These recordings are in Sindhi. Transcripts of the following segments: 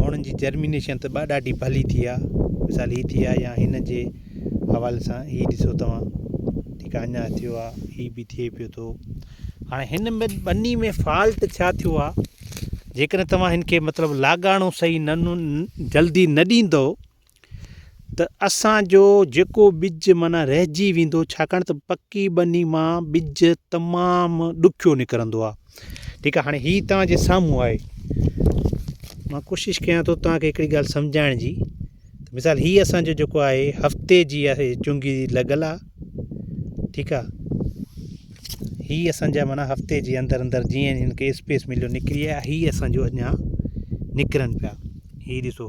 هونئن جي جرمينيشن ته ڏاڍي ڀلي ٿي آ مثال هي ٿي آ يا هن جي حوالي سان هي ڏسو توهان ٺيڪ آ اڃا ٿيو آ هي به ٿئي پيو ٿو هاڻي هن ۾ ٻني ۾ فالٽ ڇا ٿيو آ جيڪڏهن توهان هن کي مطلب لاڳاڻو صحيح نه جلدي نه ڏيندو ته اسان جو جيڪو ٻج معنيٰ رهجي ويندو ڇاڪاڻ ته پڪي ٻني مان ٻج تمام ڏکيو نڪرندو آهي ٺيڪ آهي هاڻي هي توهان جي سامهون آهي مان ڪوشش ڪيان ٿو توهان کي هڪڙي ڳالهه سمجهائڻ جي مثال هي اسان جو جيڪو آهي هفتي جي آهي چنگي لڳل آهي ٺيڪ آهي هي اسان جا معنيٰ هفتي جي اندر اندر جيئن هن کي اسپيس مليو نڪري آهي هي اسان جو اڃا نڪرن پيا هي ڏسو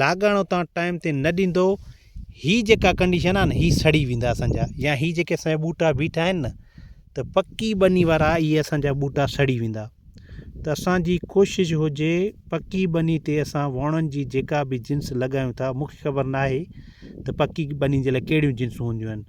لاڳاڻو تان ٽائيم تي نه ڏيندو هي جيڪا ڪنڊيشن آهي نه هي سڙي ويندا اسانجا يا هي جيڪي اسانجا ٻوٽا بيٺا آهن نه ته پڪي ٻني وارا اهي اسانجا ٻوٽا سڙي ويندا ته اسانجي ڪوشش هجي پڪي ٻني تي اسان وڻن جي جيڪا به جنس لڳايون ٿا مونکي خبر نه آهي ته پڪي ٻني جي لاء ڪهڙيون جنسون هونديون آهن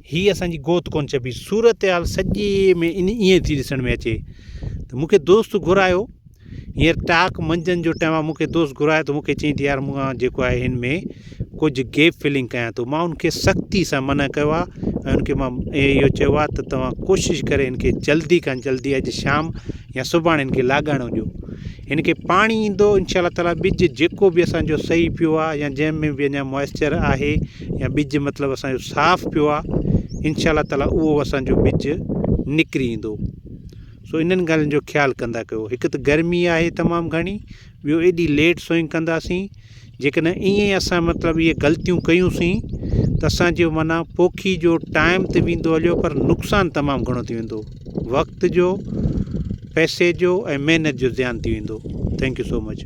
هي اسان جي گوت ڪونه چئبي. صورتحال سڄي ۾ ان ائين ٿي ڏسڻ ۾ اچي ته مون کي دوست گهرايو هينئر ٽاڪ منجهند جو ٽيم آهي مون کي دوست گهرايو ته مون کي چيائين ته يار مون کان جيڪو آهي هن ۾ ڪجهه گيپ فلنگ ڪيان ٿو مان ان کي سختي سان منع ڪيو آهي ۽ ان کي مان اهو چيو آهي ته توهان ڪوشش ڪري ان کي جلدي کان جلدي اڄ شام يا سڀاڻي هن کي لاڳاڻو ڏيو. هن کي پاڻي ايندو انشاء الله تعاليٰ ٻج جيڪو به اسان جو سهي پيو آهي يا جنهن ۾ به اڃا موئسچر آهي يا ٻج مطلب اسان جو صاف پيو آهي انشاء الله تعاليٰ اهو اسان جو ٻج نڪري ايندو سو انهن ڳالهين جو خيال ڪندا ڪيو هڪ ته گرمي آهي تمام گهڻي ٻيو ايڏي ليٽ سوئنگ ڪنداسين جيڪڏهن ائين ئي اسان مطلب اهي غلطيون ڪيون سين ته اسان جو معنيٰ پوکي جو ٽائم ته ويندو هليو پر نقصان تمام گهڻو ٿي ويندو وقت جو پئسي جو ۽ محنت جو زيان ٿي ويندو ٿينڪ يو سو مچ.